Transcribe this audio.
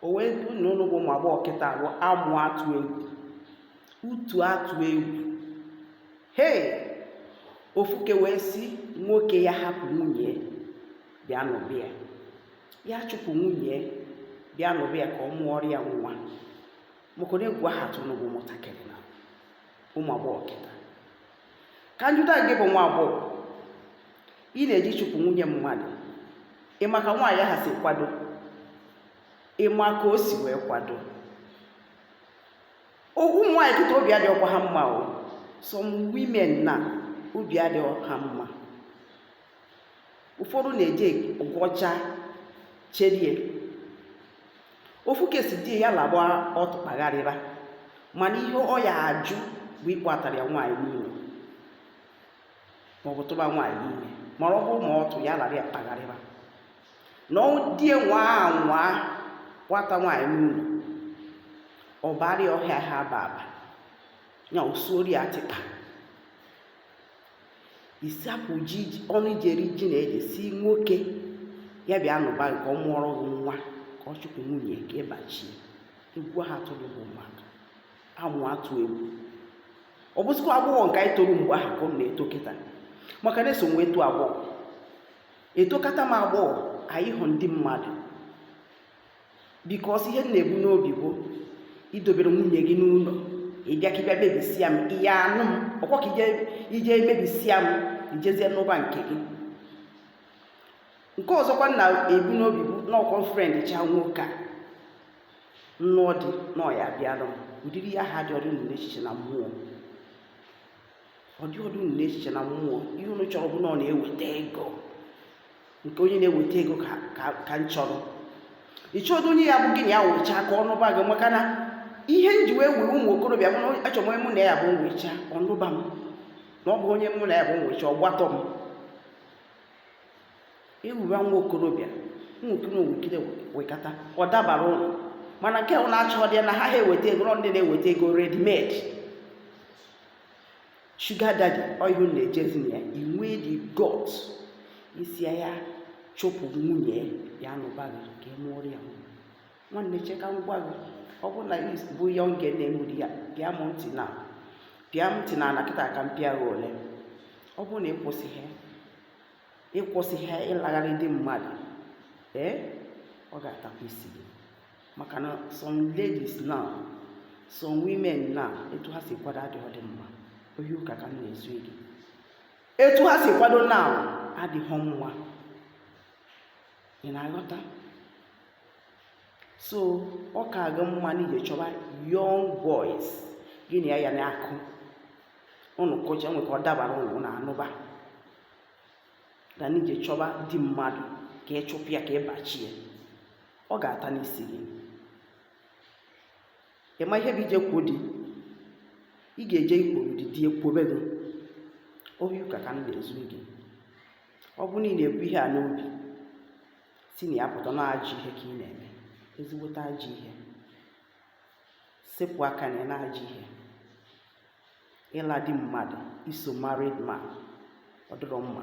o wee bụrụ na ụnụ bụ ụmụ agbọghọ kịta bụ amụ atụ egwu utu atụ egwu hei ofuke wee sị nwoke ya hapụ nwunye bịa nụba ya ya chụpụ nwunye bịa nụba ya ka ọ mụọrọ ya nwa maka na egwu aha atụ ụnụ bụ ụmụntakịrị na ụmụ agbọghọ kịta ka m jụta gị bụ nwa agbọghọ ị na-eje ịchụpụ nwunye mmadụ ị ma ka nwaanyị ahụ si kwado ị ma ka o si wee kwado ụmụ nwaanyị kịta obi adịghịkwa ha mma o some women na obi adịghị ha mma ụfọdụ na-eje ọgwọcha cherie ofuke sị di ya laba ọtụ kpagharịba mana ihe ọ ya ajụ bụ ịkpọatara ya nwaanyị n'ụlọ maọbụ tụba nwaanyị ime mana ọ bụrụ ma ọtụ ya lara ya kpagharịba na di ya nwaa anwa kpọata nwaanyị n'ụlọ ọbara ọhịa ha aba aba ya osuori ya tịkpa ị sapụ ji ọnụ i ji eri ji na ede sị nwoke ya bịa nụba ka ọ mụọrọ gị nwa ka ọ chụpụ nwunye ka ị bachie egwu aha atụdụ bụ maka amụ atụ egwu ọ bụzikwa agbọghọ nke anyị toro mgbe ahụ ka ọ na-eto kịta maka na eso m wee too agbọghọ etokata m agbọghọ anyị hụ ndị mmadụ because ihe m na-ebu n'obi bụ i dobere nwunye gị n'ụlọ ị bịa ka ị bịa mebisia m ị ya anụ m ọkwa ka i je mebisia m i jezie nụba nke gị nke ọzọkwa m na-ebu n'obi bụ n'ọkwọ friend cha nwoke a m nụọ di na ọ ya abịara m ụdịrị ihe ahụ adịọdụ unu n'echiche na mmụọ ọ dịọdụ unu n'echiche na mmụọ ihe unu chọrọ bụ na ọ na-eweta ego nke onye na-eweta ego ka m chọrọ ị chọọdụ onye ya bụ gị na ya wụchaa ka ọ nụba gị maka na ihe m ji wee wee ụmụ okorobịa bụ na achọ m onye mụ na ya bụ nwecha ọ nụba m na ọ bụ onye mụ na ya bụ nwecha ọ gbatọọ m ewuwa nwa okorobịa nwoke na owukide wekata ọ dabara ụlọ mana nke ọ na-achọ ndị ya na ha ha eweta ego ndị na-eweta ego ready made sugar daddy ọ ihe unu na-ejezi na ya i nwe the gut ị sị ya chụpụ nwunye ya nụba gị ka ị mụọrọ ya nwa nwanne cheka ngwa gị ọ bụrụ na is bụ ya oge na-enwere ya pịa m ntị na pịa m ntị na ala kịta ka m pịa gị ole ọ bụrụ na ị kwụsịghị ị kwụsịghị ịlagharị di mmadụ ee ọ ga-atakwa isi gị maka na some ladies now some women now etu ha si kwado adịghị dị mma ohi ụka ka m na-ezu gị etu ha si kwado now adịghị mma ị na-aghọta so ọ ka gị mma na ije chọba young boys gị na ya na-akụ ụnụ kụcha nwee ka ọ dabara ụnụ na anụba ka na ije chọba di mmadụ ka ị chụpụ ya ka ị bachie ọ ga-ata n'isi gị ị ma ihe bụ ije kwo di ị ga-eje ịkpọrọ di di ekwobe gị ohi ụka ka m na-ezu gị ọ bụ na ị na-ebu ihe a n'obi si na ya pụta na ajọ ihe ka ị na-eme ezigbote ajọ ihe sepụ aka gị na ajọ ihe ịla di mmadụ iso married man ọ dịrọ mma